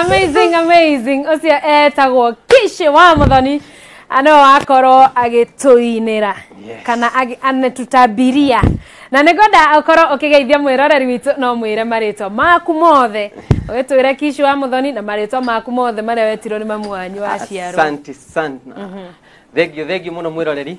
amazing amazing ũcio etagwo kishi wa mũthoni no akorwo agĩtũinĩra Yes. kana agi- anetutabiria na nĩ ngwenda ũkorwo ũkĩgeithia mwĩroreri witũ no mwĩre marĩtwa maku mothe ũgĩtwĩre kishi wa mũthoni na marĩtwa maku mothe marĩa wetirwo nĩ mamu wanyu waciarwo asante sana thengio thengio muno mwiroreri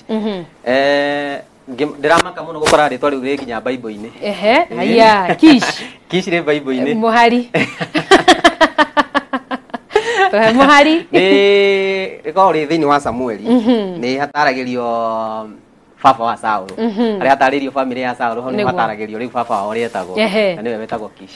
Mhm. eh ngĩ- ndĩramaka mũno gũkora rĩtwa rĩu rĩ nginya baibũ-inĩ Ehe, haya, kish. kish rĩ baibũ-inĩ Mũhari. Eh, Mũhari. nĩ rĩkoragwo rĩ thĩinĩ wa samueli Mhm. nĩ hataragĩrio baba wa saũlũ Mhm. harĩa hatarĩrio bamĩrĩ ya saũlũ hau nĩ Nĩguo. hataragĩrio rĩu baba wao ũrĩa etagwo Ehe. na nĩwe wetagwo kish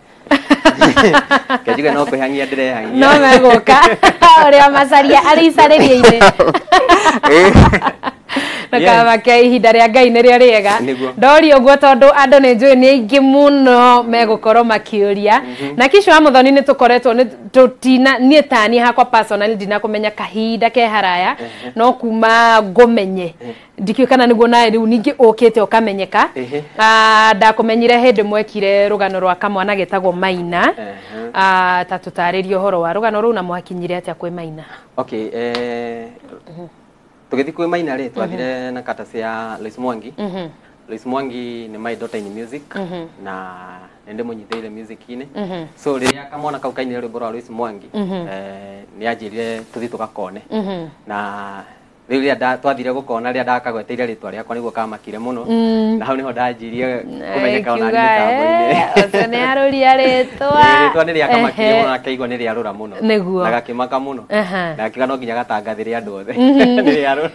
kejuge no kwihangia ndirehangia no meguka uria macaria ari icarĩria-inĩ nakaba ke ihinda rĩa ngai nĩrĩo rĩega Nĩguo. ndori ũguo tondũ andũ nĩ njũĩ nĩ aingĩ mũno megũkorwo makĩũria na kisha wa mũthoni nĩ tũkoretwo nĩ tũtina niĩ tani hakwa personal ndinakũmenya kahinda ke haraya no kuma ngũmenye ndikĩũĩ kana nĩguo nawe rĩu ningĩ ũkĩte ũkamenyeka Ehe. Ah, ndakũmenyire hĩndĩ mwekire rũgano rwa kamwana getagwo maina Ehe. Ah, ta tũtarĩrie ũhoro wa rũgano rũu na mwakinyire atĩa kwĩ maina okay eh, tũgĩthiĩ kwĩ maina rĩ twathire na katasi ya Lois Mwangi Mhm. Lois Mwangi nĩ my daughter in music Mhm. na nĩ ndĩmũnyitĩire music-inĩ Mhm. so rĩrĩa kamwana kau kainire rwĩmbo rwa Lois Mwangi Mhm. eh, nĩ anjĩrire tũthiĩ tũgakone Mhm. na rĩu rĩrĩa nda- twathire gũkona rĩrĩa ndakagweteire rĩtwa rĩakwa nĩguo kamakire mũno Mm. na hau nĩho ndanjirie kũmenyeka ona niĩ mĩtambo-inĩ ũcio nĩ arũria rĩtwa Ĩĩ, rĩtwa nĩ rĩakamakire Ehe. mũno na akaigua nĩ rĩarũra mũno Nĩguo. na gakĩmaka mũno Aha. na akiuga no nginya gatangathĩre andũ othe nĩ rĩarũra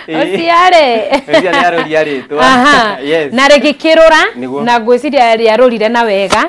Ĩĩ. ũciarĩ Rĩrĩa nĩ arũria rĩtwa Aha. Yes. na rĩgĩkĩrũra Nĩguo. na ngwĩciria rĩarũrire na wega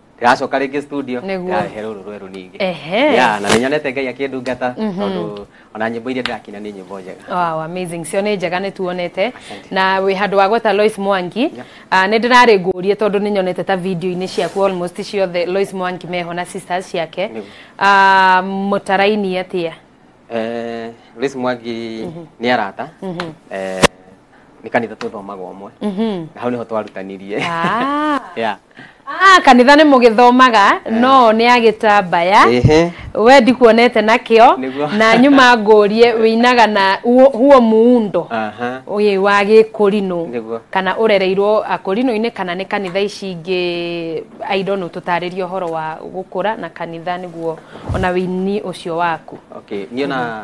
ndiracoka rĩngĩ studio Nĩguo. ndarehe rũrũ rwerũ ningĩ Ehe. ya na nĩnyonete ngai akĩndungata tondũ ona nyĩmbo iria ndĩrakina nĩ nyĩmbo njega Wow, amazing cio nä njega nä tuonete na wä handå wa gweta Lois Mwangi Yep. Ah, nä ndä rarä ngå rie tondå nä nyonete ta video-inä ciaku almost ciothe Lois Mwangi meho na sisters ciake Nĩguo. Ah, må tarainie atä a Eh, Lois Mwangi nĩ arata Eh, nä kanitha tå thomaga å mwe Mhm. na hau nä ho twarutanirie Ah. Yeah. Ah, kanitha nä må gä thomaga no nä agä tambaya Ĩhĩ. we ndikuonete nakio Nĩguo. na nyuma ngårie wä inaga na huo huo muundo Aha. ũyĩ wa gĩkũrinũ Nĩguo. kana ũrereirwo akũrinũ-inĩ kana nĩ kanitha ici ingĩ aidonũ tũtarĩrie ũhoro wa gũkũra na kanitha nĩguo ona wĩini ũcio waku okay niona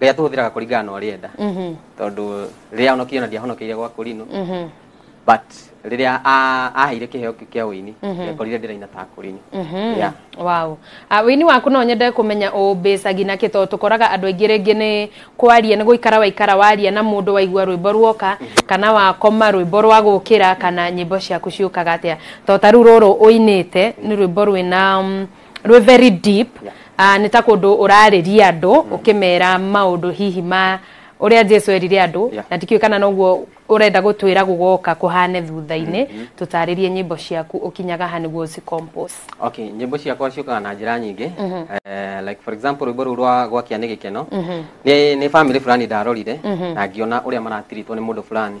rĩrĩa tũhũthĩraga kũringana na ũrĩa enda Mhm. tondũ rĩrĩa ahonokirio na ndiahonokeire gwa kũrinũ Mhm. but rĩrĩa a- aheire kĩheo kĩu kĩa ũini ndekorire ndĩraina ta kũrinũ Mhm. Yeah. Wow. Ah, wĩini waku no nyende kũmenya ũmbĩcagi na kĩ tondũ tũkoraga andũ aingĩ rĩngĩ nĩ kwaria nĩ gũikara waikara waria na mũndũ waigua rwĩmbo ruoka kana wakoma rwĩmbo rwa gũkĩra kana nyĩmbo ciaku ciũkaga atĩa tondũ ta rĩu rũrũ ũinĩte nĩ rwĩmbo rwĩna mm, rwĩ very deep Ah, nĩ ta kũndũ ũrarĩria andũ ũkĩmera maũndũ hihi ma ũrĩa jesu erire andũ Yeah. na ndikĩũĩ kana noguo ũrenda gũtwĩra gũgoka kũhane thutha-inĩ tũtarĩrie nyĩmbo ciaku ũkinyaga ha nĩguo ũcicompose okay nyĩmbo ciakwa ciũkaga na njĩra nyingĩ Eh, like for example rwĩmbo rũu rwa gwakia nĩ gĩkeno nĩ nĩ family fulani ndarorire na ngiona ũrĩa maratiritwo nĩ mũndũ fulani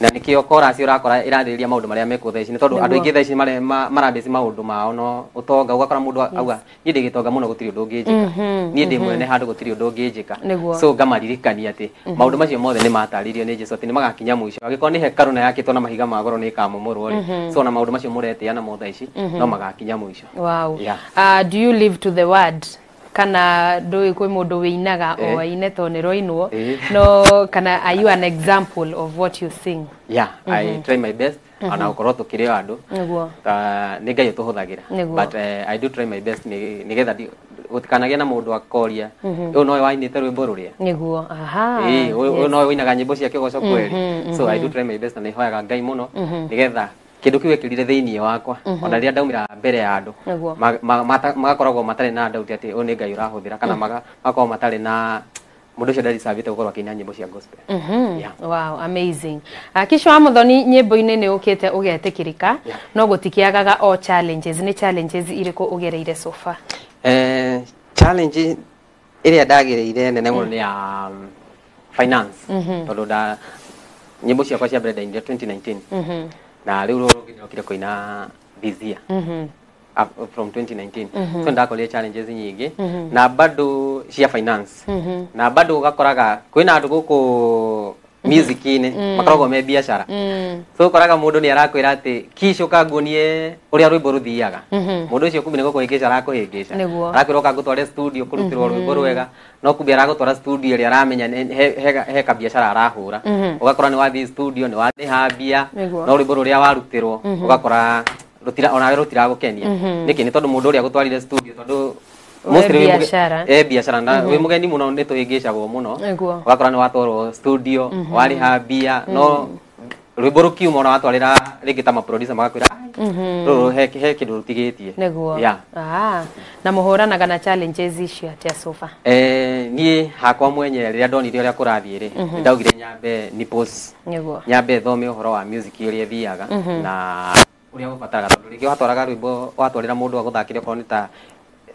na nĩkĩo korasi ũrakora ĩrarĩrĩria maũndũ marĩa mekuo thaici nĩ tondũ andũ aingĩ thaici marabĩci maũndũ mao no ũtonga ũgakora mũndũ auga niĩ ndĩ gĩtonga mũno gũtirĩ ũndũ ũngĩnjĩka mhm, niĩ ndĩ mhm. mwene handũ gũtirĩ ũndũ ũngĩnjĩka so ngamaririkania atĩ mhm. maũndũ macio mothe nĩ matarĩirio nĩ jesu atĩ nĩ magakinya mũico angĩkorwo nĩ hekarũ na yakĩtwo na mahiga ma goro nĩ ĩkamomorwo rĩ so na maũndũ macio mũretĩa namo thaici no magakinya mũico wow. yeah. uh, do you live to the word kana ndũĩ kwĩ mũndũ wĩinaga o Eh. aine to nĩ roinwo Eh. no kana are you an example of what you sing yeah i try my best ona gũkorwo tũkĩrĩ o andũ nĩguo Ah, nĩ ngai ũtũhũthagĩra Nĩguo. but eh, i do try my best nĩ- nĩgetha ndi- gũtikanagĩa na mũndũ akoria ũyũ nowe wainĩte rwĩmbo rũrĩa nĩguo aha Eh, ũyũ ũyũ yes. nowe ũinaga nyĩmbo cia kĩgoco kweri so i do try my best na nĩhoyaga ngai mũno nĩgetha kĩndũ kĩu ekĩrire thĩinĩ wakwa mm-hmm. ona rĩrĩa ndaumĩra mbere ya andũ magakoragwo matarĩ na ndauti atĩ ũyũ nĩ ngai ũrahũthĩra kana mm. magakorwo matarĩ na mundu ucio ndarisavite gukorwo akiina nyimbo cia gospel mm -hmm. yeah. wow amazing yeah. kisho wa muthoni nyimbo-ini ni ukite ugetikirika yeah. no gutikiagaga o challenges ni challenges iriku ugereire so far eh challenge ĩrĩa ndagĩrĩire nene mũno nĩ ya um, finance mhm. tondũ nda nyĩmbo ciakwa cia mbere ndainire 2019 mhm. na rĩu rũrũ ndokire kũina this year mhm. from 2019 so ndakorire challenges nyingĩ na bado cia finance na bado ũgakoraga kwĩna andũ gũkũ music-inĩ Mm. makoragwo me biacara Mm. so ũkoraga mũndũ nĩ arakwĩra atĩ kish ũka nguonie ũrĩa rwĩmbo rũthiaga Mhm. mũndũ ũcio kumbe nĩ gũkũhĩngĩca arakũhĩngĩca Nĩguo. arakwĩra ũka ngũtware studio kũrutĩrwo rwĩmbo rwega no kumbe aragũtwara studio ĩrĩa aramenya nĩ- he- he- he kabiacara arahũra Mhm. ũgakora nĩ wathiĩ studio nĩ warĩha mbia Nĩguo. no rwĩmbo rũrĩa warutirwo ũgakora rũtira onawe rũtiragũkenia Mhm. nĩkĩ nĩ tondũ mũndũ ũrĩa gũtwarire studio tondũ Mostly wĩ mũge- biacara. eh, biacara na wĩ mũgeni mũno nĩ tũhĩngĩcagwo mũno Nĩguo. ũgakora nĩ watwarwo studio warĩha mbia no rwĩmbo rũkiuma ona watwarĩra rĩngĩ ta maproducer magakwĩra rũrũ he he kĩndũ rũtigĩtie nĩguo Yeah. Ah, na mũhũranaga na challenges icio atĩa sofa Eh, niĩ hakwa mwenye rĩrĩa ndonire ũrĩa kũrathiĩ rĩ nĩ ndaugire nyambe ni post nĩguo nyambe thome ũhoro wa music ũrĩa ĩthiaga na ũrĩa ũbataraga tondũ rĩngĩ watwaraga rwĩmbo watwarĩra mũndũ agũthakĩre okorwo nĩ ta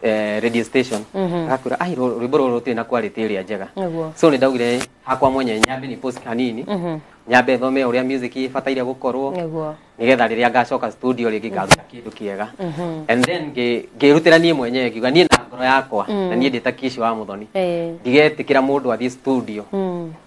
eh, radio station Mhm. agakwĩra ai rũ- rwĩmbo rũrũ rũtirĩ na quality ĩrĩa njega Nĩguo. so nĩ ndaugire hakwa mwenye nyambe nĩ post hanini Mhm. nyambe thome ũrĩa music ĩbataire gũkorwo Nĩguo. nigetha rĩrĩa ngacoka studio rĩngĩ ngaruta kĩndũ kĩega Mhm. and then ngĩ- ngĩrutĩra niĩ mwenyewe ngiuga niĩ na ngoro yakwa Mm. na niĩ ndĩta kici wa mũthoni Eh. ndigetĩkĩra mũndũ athiĩ studio Mm.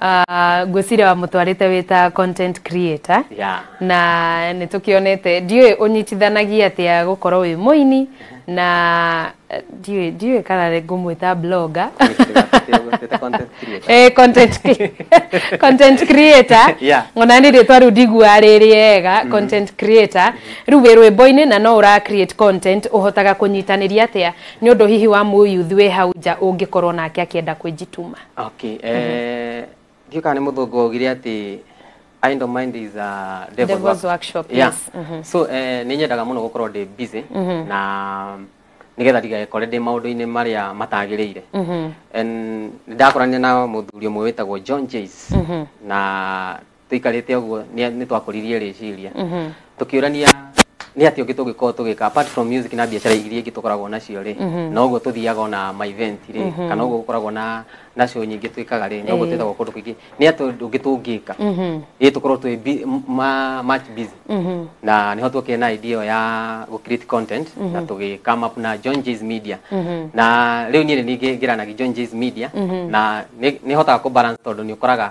Ah, ngwĩciria wamũtwarĩte wĩ ta content creator Yeah. na nĩ tũkĩonete ndiũĩ ũnyitithanagia atĩa gũkorwo wĩ mũini na eh, ndiũĩ ndiũĩ kana nĩ ngũmwĩta blogger Ndĩgũtuĩte content creator. Eh, content cre- content creator Yeah. ona nĩ rĩtwa rĩu ndigua rĩ rĩega content creator rĩu wĩ rwĩmbo-inĩ na no ũra create content ũhotaga kũnyitanĩria atĩa nĩ ũndũ hihi wa mũyuthi wĩ hau nja ũngĩkorwo nake akĩenda kwĩnjituma Okay, eh, ndiũĩ kana nĩ mũthũngũ waugire atĩ idle mind is a devil's Devil's work- workshop, Yeah. yes. Mhm. so eh, nĩ nyendaga mũno gũkorwo ndĩ busy na nĩgetha ndigakore ndĩ maũndũ-inĩ marĩa matagĩrĩire And nĩndakorania na mũthuri ũmwe wĩtagwo john jays na tũikarĩte ũguo nĩ nĩ twakũririe rĩciria tũkĩũrania nĩ atĩ ũngĩ tũngĩkorwo tũgĩka apart from music na biacara iria ingĩ tũkoragwo nacio rĩ na ũguo tũthiaga ona ma event rĩ kana ũguo gũkoragwo na na show nyingĩ twĩkaga rĩ na ũguo twĩtagwo kũndũ kũingĩ nĩ atĩ ũndũ ũngĩ tũngĩka ĩ tũkorwo twĩ bi- m- ma- much busy na nĩho twokire na idea ĩyo ya gũ create content na tũgĩ come up na John J's Media na rĩu niĩ nĩ ningĩ ngeranagi John J's Media na nĩ- nĩhotaga kũ balance tondũ nĩ ũkoraga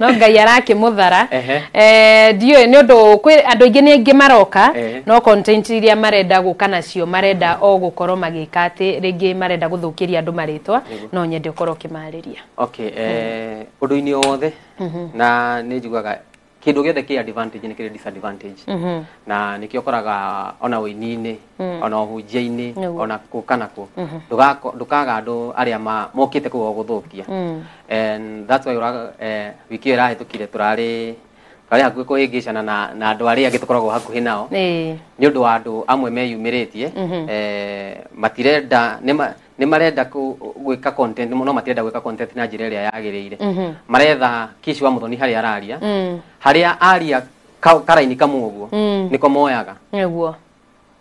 no ngai arakĩmũthara Ehe. Eh, ndiũĩ nĩ ũndũ kwĩ andũ aingĩ nĩ aingĩ maroka Ehe. no content iria marenda gũka nacio marenda o gũkorwo magĩka atĩ rĩngĩ marenda gũthũkĩria andũ marĩtwa no nyende ũkorwo ũkĩmarĩria okay eh, ũndũ-inĩ o wothe na nĩ njugaga kĩndũ gĩothe kĩ advantage nĩ kĩrĩ disadvantage na nĩkĩo ũkoraga ona ũini-inĩ mm. ona ũhunjia-inĩ ona kũka nakuo mm-hmm. ndũkaga andũ arĩa mokĩte kũu gũthũkia mm. and that's why eh, wiki ĩyo ĩrahĩtũkire tũrarĩ arĩa hakuhĩ kũhĩngĩcana na na andũ arĩa angĩ tũkoragwo hakuhĩ nao nĩ ũndũ wa andũ amwe meyumĩrĩtie mhm. eh, matirenda nĩ marenda gwĩka content no matirenda gwĩka content na njĩra ĩrĩa yagĩrĩire mhm. maretha kici wa mũthoni harĩa araria mm. harĩa aria karaini kamwe ũguo mm. nĩko moyaga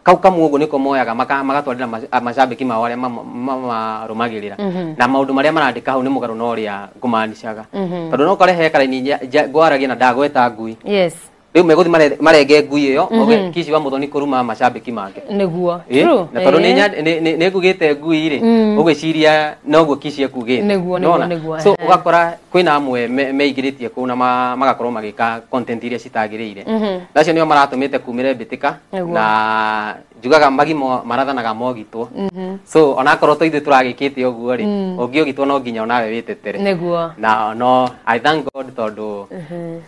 kau kamwe uguo niko moyaga maka- magatwarira mac- a- macambiki mao aria mamarumagirira Mhm. na maundu maria marandika hau ni mugaru na uria ngumanicaga Mhm. tondu no kore he karaini nja- nja- ngwaragia na ndagweta ngui yes riu meguthi mare- marenge ngui iyo oge kici wa muthoni kuruma macambiki make niguo Ĩ, True. na tondu Ĩ. nä ngugä te ngui rä Mm. å gwä ciria noguo kici ekugä Nĩguo, nĩguo, nĩguo, so ehe. å gakora kwina amwe me- meingĩrĩtie kũu na ma- magakorwo magĩka content iria citagĩrĩire Mhm. nacio nĩo maratũmĩte kumĩre mbĩtĩka Nĩguo. na njugaga magimo marathanaga mogitwo Mhm. so onakorwo to ithuĩ tũragĩkĩte ũguo rĩ Mm. ũngĩũgitwo no nginya onawe wĩtetere nĩguo na no i thank god tondũ Mhm.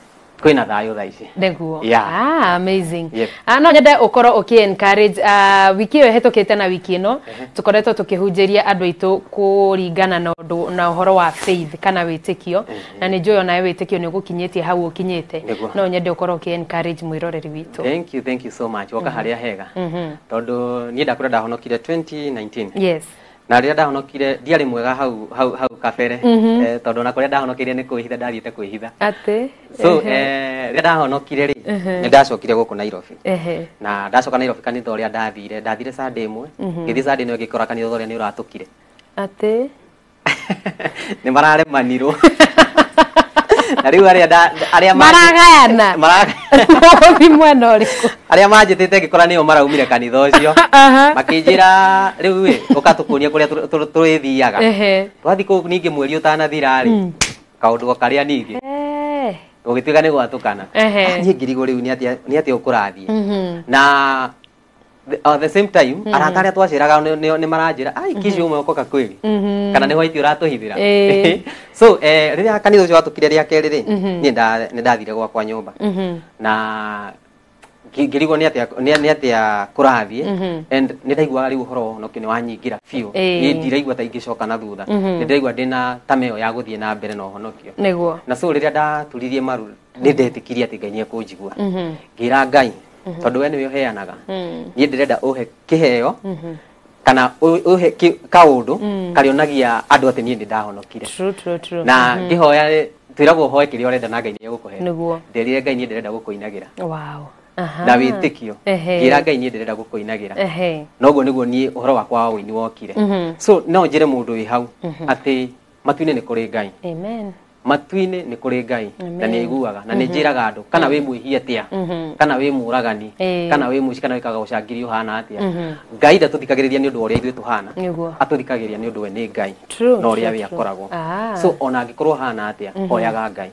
kwina thayo thaa ici nĩguo Yeah. ah, amazing Yep. ah, no nyende ũkorwo ũkĩ encourage ah, wiki ĩyo ĩhetũkĩte na wiki ĩno tũkoretwo tũkĩhunjĩria andũ aitũ kũringana na ũndũ na ũhoro wa faith kana wĩtĩkio na nĩ njũĩ onawe wĩtĩkio nĩ ũgũkinyĩtie hau ũkinyĩte Nĩguo. no nyende ũkorwo ũkĩ encourage mwĩroreri witũ thank you thank you so much woka harĩa hega tondũ niĩ ndakũra ndahonokire 2019 yes na rĩrĩa ndahonokire ndiarĩ mwega hau hau hau kabere Mhm. eh, tondũ na kũrĩa ndahonokire nĩ kwĩhitha ndathiĩte kwĩhitha atĩ so ehe, eh, rĩrĩa ndahonokire rĩ Mhm. nĩ ndacokire gũkũ nairobi ehe, na ndacoka nairobi kanitha ũrĩa ndathire ndathire sande ĩmwe Mhm. ngĩthiĩ sande ĩno ngĩkora kanitha ũrĩa nĩ ũratũkire atĩ nĩ mararemanirwo na rĩu arĩa nda- arĩa mangĩ- maragayana maragayana Ũthiĩ mwena ũrĩkũ? arĩa manjĩtĩte ngĩkora nĩo maraumire kanitha ũcio Aha. makĩnjĩra rĩu ĩ ũkatũkũria kũrĩa tũ- tũ- tũrĩthiaga Ehe. twathiĩ kũu ningĩ mweri ũtanathira rĩ kaũndũ o karĩa ningĩ Eh. gũgĩtuĩka nĩ gwatũkana Ehe. niĩ ngirigwo rĩu nĩ atĩa- nĩ atĩa ũkũrathiĩ Mhm. na the, uh, the same time mm. arata arĩa twacĩraga nĩ maranjĩra ai mhm. kici ũmwe ũkoka kwĩrĩ mhm. kana nĩ hwaiti ũratũhithĩra eh. so eh, rĩrĩa kanitha ũcio watũkire rĩa kerĩ rĩ mhm. niĩ nĩ ndathire gwakwa nyũmba na ngĩrigwo nĩ atĩa kũrathiĩ mhm. and nĩ ndaiguaga rĩu ũhoro wono kĩ nĩ wanyingĩra biũ nĩ ndiraigua ta ingĩcoka na thutha mhm. nĩ ndĩraigua ndĩ na tama ĩyo ya gũthiĩ na mbere na ũhonokio na so rĩrĩa ndaturirie maru nĩ ndetĩkirie atĩ ngai nĩ ekũnjigua mhm. ngĩra ngai mhm. tondũ we nĩwe ũheanaga mm. niĩ ndĩrenda ũhe kĩheo mhm. kana ũhe kaũndũ mm. karĩonagia andũ atĩ niĩ nĩ ndahonokire na mhm. ngĩhoya twĩragwo ũhoe kĩrĩa ũrenda na ngai nĩ egũkũhe nderire ngai niĩ ndĩrenda gũkũinagĩra na wĩtĩkio ngĩra ngai niĩ ndĩrenda gũkũinagĩra na ũguo nĩguo niĩ ũhoro wakwa wa ũini wokire so no njĩre mũndũ wĩ hau atĩ matu-inĩ nĩ kũrĩ ngai matu-inĩ nĩ kũrĩ ngai na nĩ aiguaga na nĩ njĩraga andũ kana wĩ mwĩhia atĩa kana wĩ mũragani Ĩĩ. kana wĩ mũici kana wĩkaga ũcangiri ũhana atĩa ngai ndatũthikagĩrĩria nĩ ũndũ wa ũrĩa ithuĩ tũhana Nĩguo. atũthikagĩrĩria nĩ ũndũ we nĩ ngai True, na ũrĩa true, we true. akoragwo Ah. so ona angĩkorwo hana atĩa oyaga ngai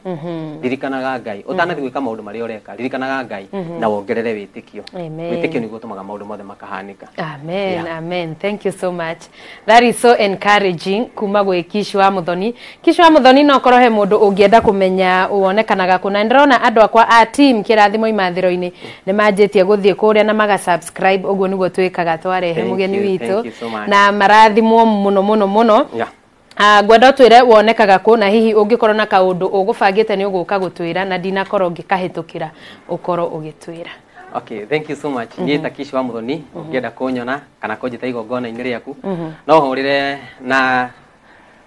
ririkanaga ngai ũtanathiĩ gwĩka maũndũ marĩa ũreka ririkanaga ngai na wongerere wĩtĩkio Amen. wĩtĩkio nĩguo ũtũmaga maũndũ mothe makahanĩka amen Yeah. amen thank you so much That is so encouraging kuma gwĩ Kishu wa Muthoni. Kishu wa Muthoni no korwo he mũndũ ũngĩenda kũmenya wonekanaga kũ na ndĩrona andũ akwa a team kĩrathimo imathĩro-inĩ nĩ manjĩtie gũthiĩ kũrĩa na maga subscribe ũguo nĩguo twĩkaga twarehe Thank mũgeni you, witũ thank you so much. na marathimwo mũno mũno mũno Yeah. Ah, ngwenda ũtwĩre wonekaga kũ na hihi ũngĩkorwo na kaũndũ ũgũbangĩte nĩ ũgũka gũtwĩra na ndinakorwo ngĩkahĩtũkĩra ũkorwo ũgĩtwĩra Okay, thank you so much. Mm -hmm. Niĩ Takishi wa Muthoni, mm -hmm. ũngĩenda kũnyona kana kũnjĩta igongona-inĩ rĩaku, mm -hmm. no hũrĩre na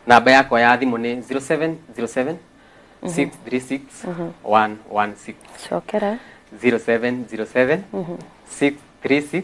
namba yakwa ya thimũ nĩ 0707 636 116. Cokera. 0707 636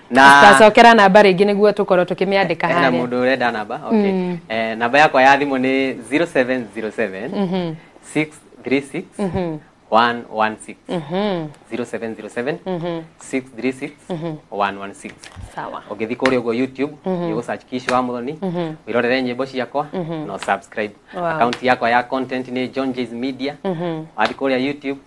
na Tacokera namba rĩngĩ nĩguo tũkorwo tũkĩmĩandĩka hena harĩa. mũndũ ũrenda namba okay. Mm. eh, namba yakwa ya thimũ nĩ 0707 Mhm. 636 Mhm. 116 Mhm. 0707 Mhm. 636 Mhm. 116 Sawa. ũngĩthiĩ kũrĩa ũguo youtube Mhm. nĩ ũgũsearch kishi wa mũthoni Mhm. wĩrorere nyĩmbo ciakwa Mhm. na ũsubscribe Wow. akaunti yakwa ya content nä john jays media wathi kå rä a youtube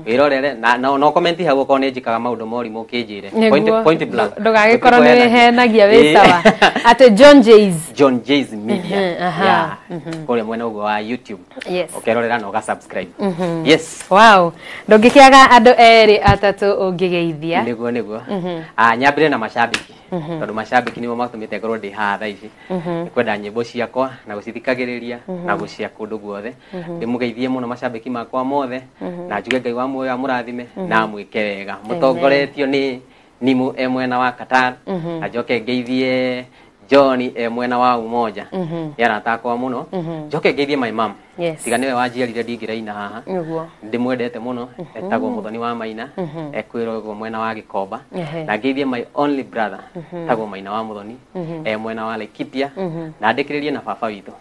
wä rorere na na- no komenti hau okorwo nä njikaga maå ndå morimå å kä njä re Nĩguo. ndũgagĩkorwo nĩ wĩhenagia wĩ sawa atĩ john jays john jays Mhm, media aha, Yeah. kå rä a mwena å guo wa youtube Yes. ũkerorera na ũgasubscribe yes wow ndũngĩkĩaga andũ erĩ atatũ ũngĩgeithia niguo niguo Ah, nyambire na mashabiki tondå mashabiki nimo matå mä te ngorwo ndä haha thaa ici nĩ kwenda nyĩmbo ciakwa na gũcithikagĩrĩria na gũcia kũndũ guothe ndĩmũgeithie mũno macambĩki makwa mothe na njuge ngai wa muoyo amũrathime na amwĩke wega mũtongoretio nĩ nimũ e mwena wa Qatar na njoke ngeithie John e mwena wa Umoja nĩ arata akwa mũno njoke ngeithie my mom Yes. tiga nĩwe wanjiarire ndingĩraina haha Nĩguo. ndĩmwendete mũno etagwo mũthoni wa maina ekwĩrogwo mwena wa gĩkomba Ehe. na ngeithie my only brother etagwo maina wa mũthoni e mwena wa laikipia na ndĩkĩrĩrie na baba witũ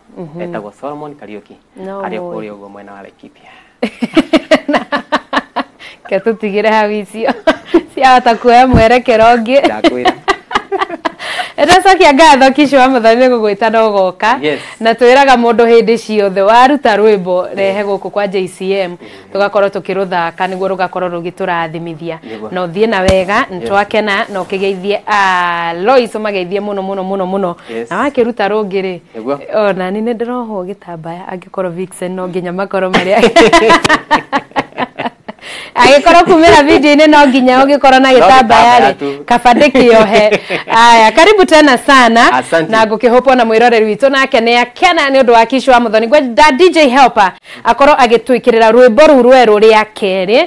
etagwo solomon kariuki No arĩ o way. kũrĩa ũguo mwena wa laikipia ke tũtigĩre hau icio ciahota kuoya mwerekero ũngĩ ndakwĩra ndacokia ngatho kisho wa mũthoni nĩ gũgwĩta no goka Yes. na twĩraga mũndũ hĩndĩ ciothe waruta rwĩmbo rehe gũkũ kwa JCM tũgakorwo tũkĩrũthaka nĩguo rũgakorwo rũgĩtũrathimithia Nĩguo. na ũthiĩ na wega nĩ twakena na ũkĩgeithie ah, Lois ũmageithie mũno mũno mũno mũno Yes. na wakĩruta rũngĩ rĩ Nĩguo. ona ni nĩ ndĩrohwo gĩtambaya angĩ korwo vixen no nginya makorwo marĩ agĩkorwo kumĩra video-inĩ no nginya ũngĩkorwo na gĩtambaya rĩ gĩtambaya kabandĩ kĩohe aya karibu tena sana Asante. na ngũkĩhũpwo na mwĩroreri witũ nake nĩ akena nĩ ũndũ wa kishu wa mũthoni ngwenda dj helper akorwo agĩtwĩkĩrĩra rwĩmbo rũu rwerũ rĩa kerĩ